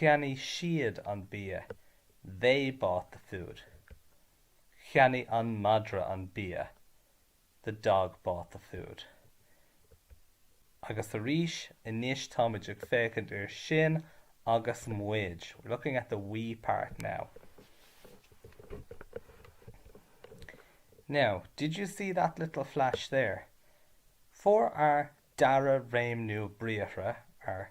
Cheannaigh siad an bia, they bought the food. Cheannaigh an madra an bia, the dog bought the food. Agus arís anois táimid ag féachaint ar sinn agus muid, we're looking at the we part now. Now, did you see that little flash there? For our dara réimniú briathra, our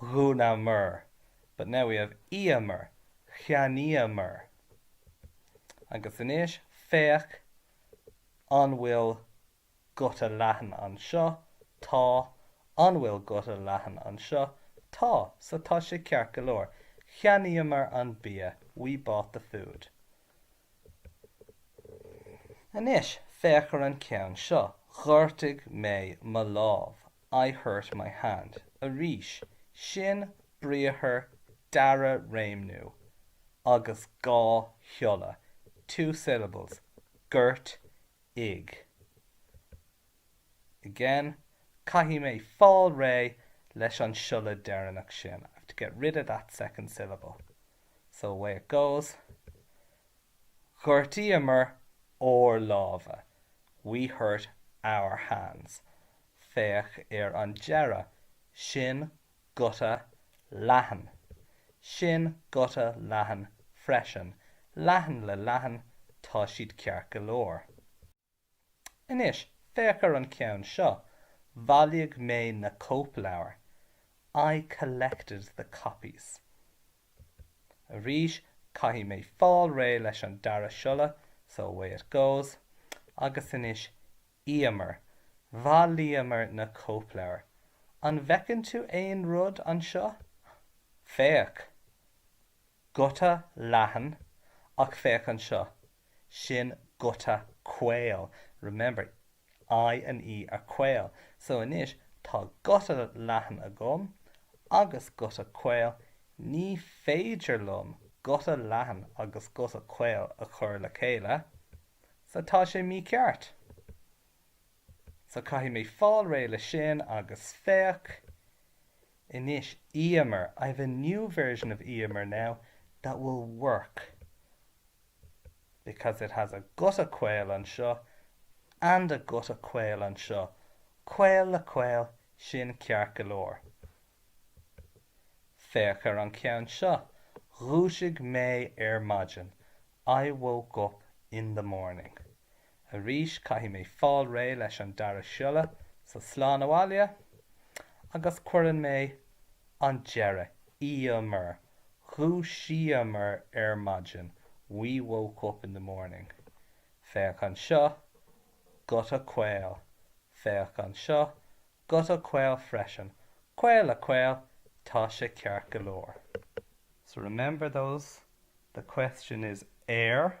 dhúnamar but now we have íomar cheannaíomar agus anois féach an bhfuil guta leathan anseo, tá, an bhfuil guta leathan anseo, tá, so tá sé ceart go leor, cheannaíomar an bia we bought the food. Anois féach ar an ceann seo, ghortaigh mé mo lámh, I hurt my hand. Arís, sin briathar dara réimniú agus dhá shiolla, two syllables, gort, igh. again, caithfidh mé fáil réidh leis an siolla deireanach sin, I have to get rid of that second syllable. So away it goes, Ghortaíomar ár lámha, we hurt our hands. Féach ar an deireadh, sin guta leathan. Sin guta leathan freisin. Leathan le leathan, tá siad ceart go leor. Anois, féach ar an ceann seo, Bhailigh mé na cóipleabhair, I collected the copies. Arís, caithfidh mé fáil réidh leis an dara siolla, so away it goes. Agus anois, íomar. Bhailíomar na cóipleabhair. An bhfeiceann tú aon rud anseo? Féach! Guta leathan, ach féach anseo, sin guta caol. Remember, I and E are caol. So anois, tá guta leathan agam agus guta caol, ní féidir liom guta leathan agus guta caol a chur le chéile, so tá sé mícheart. So caithfidh mé fáil réidh le sin agus féach anois íomar, I have a new version of íomar now that will work because it has a guta caol anseo and a guta caol anseo, caol le caol, sin ceart go leor. Féach ar an ceann seo, Dhúisigh mé ar maidin, I woke up in the morning. Arís caithfidh mé fáil réidh leis an dara siolla, so slán abhaile, agus cuireann mé an deireadh íomar, dhúisíomar ar maidin, we woke up in the morning. Féach anseo, guta caol. Féach anseo, guta caol freisin. Caol le caol, tá sé ceart go leor. So remember those, the question is 'Ar.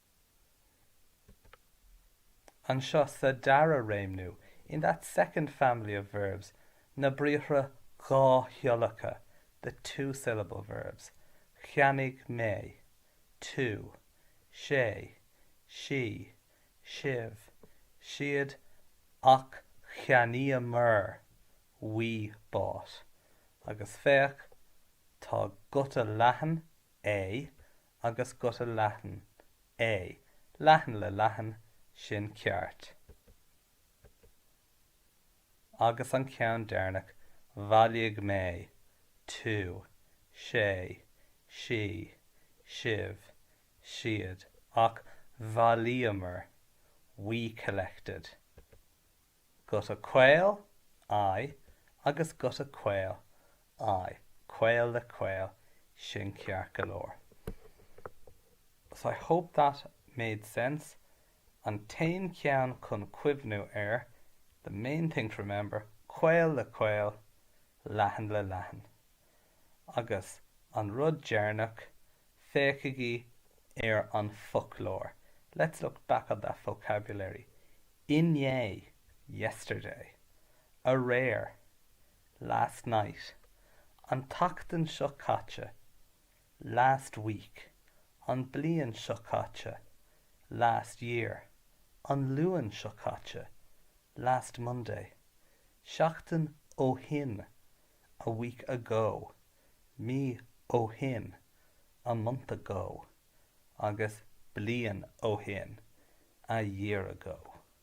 Anseo sa dara réimniú, in that second family of verbs, na briathra dhá shiollacha, the two-syllable verbs, cheannaigh mé, tú, sé, sí, sibh, siad, ach cheannaíomar, we bought, agus féach, tá guta leathan, a, agus guta leathan, a, leathan le leathan, sin ceart. Agus an ceann deireanach, bhailigh mé, tú, sé, sí, sibh, siad, ach bhailíomar, we collected. Guta caol, I, agus guta caol, I, caol le caol, sin ceart go leor. So I hope that made sense. An t-aon cheann chun cuimhniú air, the main thing to remember, caol le caol, leathan le leathan. Agus an rud deireanach, féachaigí ar an foclóir, let's look back at that vocabulary, inné, yesterday, aréir, last night, an tseachtain seo caite, last week, an bliain seo caite, last year, an Luan seo caite, last Monday, seachtain ó shin, a week ago, mí ó shin, a month ago, agus bliain ó shin, a year ago.